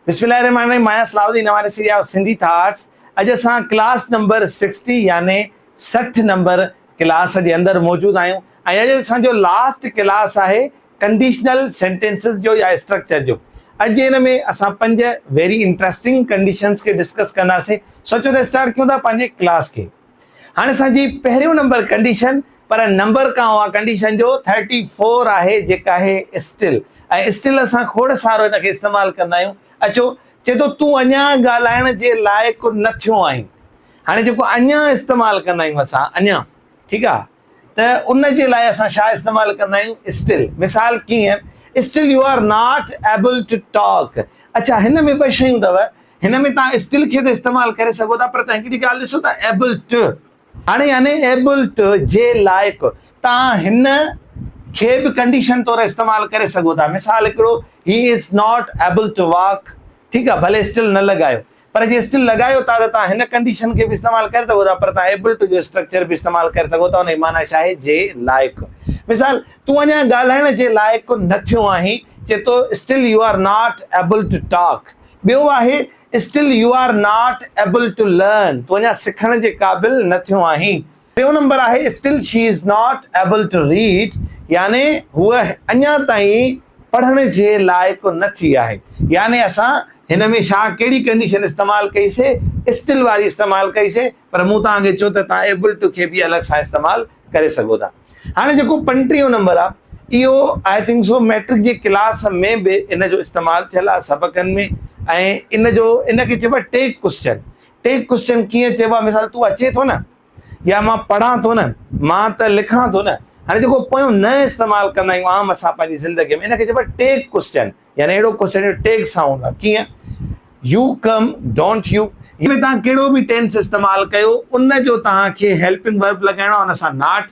بسم الله الرحمن الرحيم Maya Salahuddin Nawari series of Sindhi thoughts اڄ اسان ڪلاس نمبر سڪسٽي يعني سٺ نمبر ڪلاس جي اندر موجود آهيون ۽ اڄ اسان جو لاسٽ ڪلاس آهي ڪنڊيشنل سينٽينسز جو يا اسٽرڪچر جو اڄ ان ۾ اسان پنج ويري انٽرسٽنگ ڪنڊيشنز کي ڊسڪس ڪنداسين سوچو ته اسٽارٽ ڪيون ٿا پنهنجي ڪلاس کي هاڻي اسان جي پهريون نمبر ڪنڊيشن پر نمبر کان اها ڪنڊيشن جو ٿرٽي فور آهي جيڪا آهي اسٽل ۽ اسٽل اسان کوڙ سارو ان کي استعمال ڪندا آهيون اچو چئي ٿو تون اڃا ڳالهائڻ جي لائق نه ٿيو آهين هاڻي جيڪو اڃا استعمال ڪندا آهيون اسان اڃا ٺيڪ آهي ته ان جي لاء اسان ڇا استعمال ڪندا آهيون اسٽل مثال ڪيئن still you are not able to talk اڇا هن ۾ ٻه شيون اٿو هن ۾ تان اسٽل کي ته استعمال ڪري سگهو ٿا پر تان هڪڙي ڳالهه ڏسو ٿا ايبل ٽو هاڻي يعني ايبل ٽو جي لائق تان هن کي به ڪنڊيشن طور استعمال ڪري سگهو ٿا مثال هڪڙو he is not able to walk ٺيڪ آهي ڀلي اسٽل نه لڳايو پر جي اسٽل لڳايو ٿا ته توهان هن ڪنڊيشن کي به استعمال ڪري سگهو ٿا پر توهان ايبل ٽو جو اسٽرڪچر به استعمال ڪري سگهو ٿا ان جي معنيٰ ڇا آهي جي لائق مثال تون اڃا ڳالهائڻ جي لائق نه ٿيو آهين چئي ٿو still you are not able to talk ٻيو آهي still you are not able to learn تون اڃا سکڻ جي قابل نه ٿيو آهين ٽيون نمبر آهي Still she is not able to read يعني هوء اڃا تائين پڙهڻ جي لائق نه ٿي آهي يعني اسان هن ۾ ڇا ڪهڙي ڪنڊيشن استعمال ڪئي سي Still واري استعمال ڪئي سي پر مون توهان کي چيو ته توهان Able to کي به الڳ سان استعمال ڪري سگهو ٿا هاڻي جيڪو پنٽيهون نمبر آهي اهو I think so مئٽرڪ جي ڪلاس ۾ به ان جو استعمال ٿيل آهي سبقن ۾ ۽ ان جو ان کي چئبو آهي Take Question ٽي ڪوشچن ڪيئن چئبو آهي مثال تون اچين ٿو نه يا مان پڙهان ٿو نه مان ته لکان ٿو نه هاڻي جيڪو پويون نه استعمال ڪندا آهيون عام اسان پنهنجي زندگي ۾ ان کي چئبو آهي ٽيگ ڪوشچن يعني اهڙو ڪوشچن جو ٽيگ سان هوندو آهي ڪيئن يو ڪم ڊونٽ يو ۾ تان ڪهڙو به ٽينس استعمال ڪيو ان جو تان کي هيلپنگ ورب لڳائڻو آهي ان سان ناٽ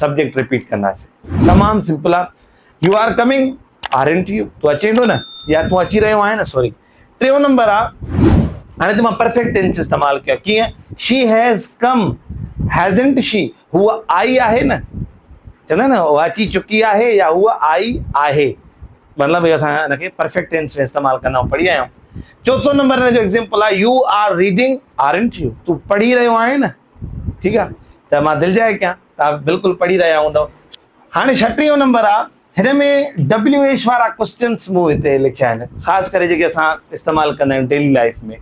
سبجيڪٽ رپيٽ ڪنداسين. تمام سمپل آ you are coming aren't you تون اچين ٿو نه يا تون اچي رهيو آهين نه سوري ٽيون نمبر آ هاڻي ته مان پرفيڪٽ ٽينس استعمال ڪيو ڪيئن شي هيز ڪم هيزنٽ شي هو آئي آهي نه چوندا نه هو اچي چڪي آهي يا هو آئي آهي مطلب اهو اسان ان کي پرفيڪٽ ٽينس ۾ استعمال ڪندا آهيون پڙهي آيا آهيون چوٿون نمبر ان جو ايگزامپل آ you are reading aren't you تون پڙهي رهيو آهين نه ٺيڪ آ ته مان دلجاء ڪيان توهان بلڪل پڙهي رهيا هوندؤ. هاڻي ڇٽيهون نمبر آ هن ۾ WH وارا ڪوسچنس مون هتي لکيا آهن خاص ڪري جيڪي اسان استعمال ڪندا آهيون ڊيلي لائيف ۾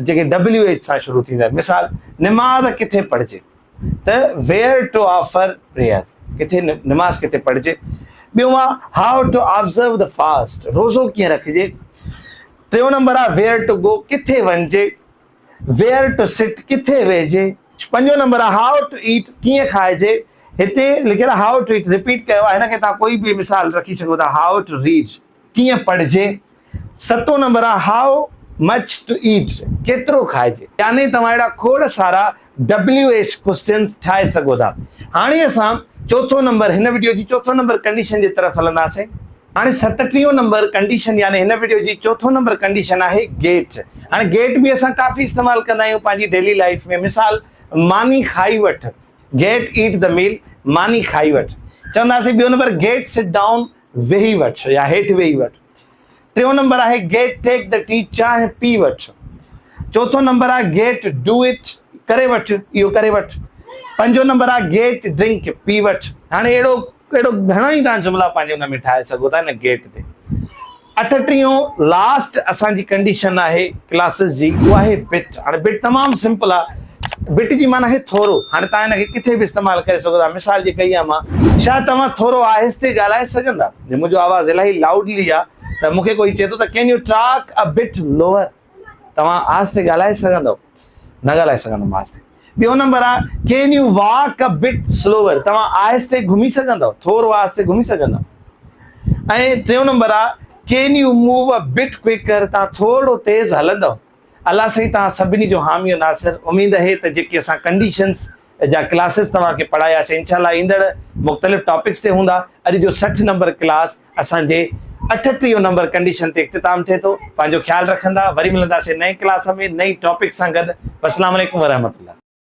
جيڪي WH سان شروع ٿيندا آهن مثال نماز ڪٿي پڙهجي ته ويئر ٽو آفر پريئر ڪٿي نماز ڪٿي پڙهجي ٻيو آ how to observe the fast روزو ڪيئن رکجي ٽيون نمبر آ ويئر ٽو گو ڪٿي وڃجي ويئر ٽو سٽ، ڪٿي ويهجي. پنجون نمبر آهي هائو ٽو ايٽ، ڪيئن کائجي. هتي لکيل آهي هائو ٽو ايٽ رپيٽ ڪيو آهي هن کي توهان ڪوئي به مثال رکي سگهو ٿا هائو ٽو ريڊ، ڪيئن پڙهجي. ستون نمبر آهي هائو مچ ٽو ايٽ، ڪيترو کائجي. يعني توهان اهڙا کوڙ سارا. ڊبليو ايڇ ڪوئسچنز ٺاهي سگهو ٿا. هاڻي اسان چوٿون نمبر هن وڊيو جي چوٿون نمبر ڪنڊيشن جي طرف هلنداسين. هاڻي ستٽيهون نمبر ڪنڊيشن يعني هن وڊيو جي چوٿون نمبر ڪنڊيشن آهي گيٽ. هاڻي گيٽ به اسان ڪافي استعمال ڪندا آهيون پنهنجي ڊيلي لائيف ۾ مثال ماني کائي وٺ Get eat the meal ماني کائي وٺ چونداسين ٻيو نمبر Get sit down ويهي وٺ يا هيٺ ويهي وٺ. ٽيون نمبر آهي گيٽ ٽيڪ دي ٽي چانهه پي وٺ چوٿون نمبر آهي گيٽ ڊو اٽ ڪري وٺ اهو ڪري وٺ پنجون نمبر آهي گيٽ ڊرنڪ پي وٺ هاڻي اهڙو اهڙو گهڻا ئي تان جملا پنهنجي ان ۾ ٺاهي سگهو ٿا هن گيٽ تي اٺٽيون لاسٽ اسان جي ڪنڊيشن آهي ڪلاسز جي اهو آهي بٽ هاڻي بٽ تمام سمپل آهي بٽ جي معنی آهي ٿورو هاڻي تان هن کي ڪٿي به استعمال ڪري سگهو ٿا مثال جي ڪئي آهي مان ڇا توهان ٿورو آهستي ڳالهائي سگهندا جي منهنجو آواز الاهي لائوڊلي آ ته مونکي ڪوئي چئي ٿو ته can you talk a bit lower توهان آهستي ڳالهائي سگهندؤ نه ڳالهائي سگهندم آهستي ٻيو نمبر آ can you walk a bit slower توهان آهستي گهمي سگهندؤ ٿورو آهستي گهمي سگهندؤ ۽ ٽيون نمبر آ can you move a bit quicker توهان ٿورڙو تيز هلندؤ الله سائين توهان سڀني جو حامي و ناصر اميد اهي ته جيڪي اسان ڪنڊيشنز جا ڪلاسز توهان کي پڙهايا سي انشاء الله ايندڙ مختلف ٽاپڪس تي هوندا اڄ جو سٺ نمبر ڪلاس اسان جي اٺٽيهه نمبر ڪنڊيشن تي اختتام ٿئي ٿو پنهنجو خيال رکندا وري ملنداسي نئين ڪلاس ۾ نئين ٽاپڪ سان گڏ السلام عليڪم ورحمت الله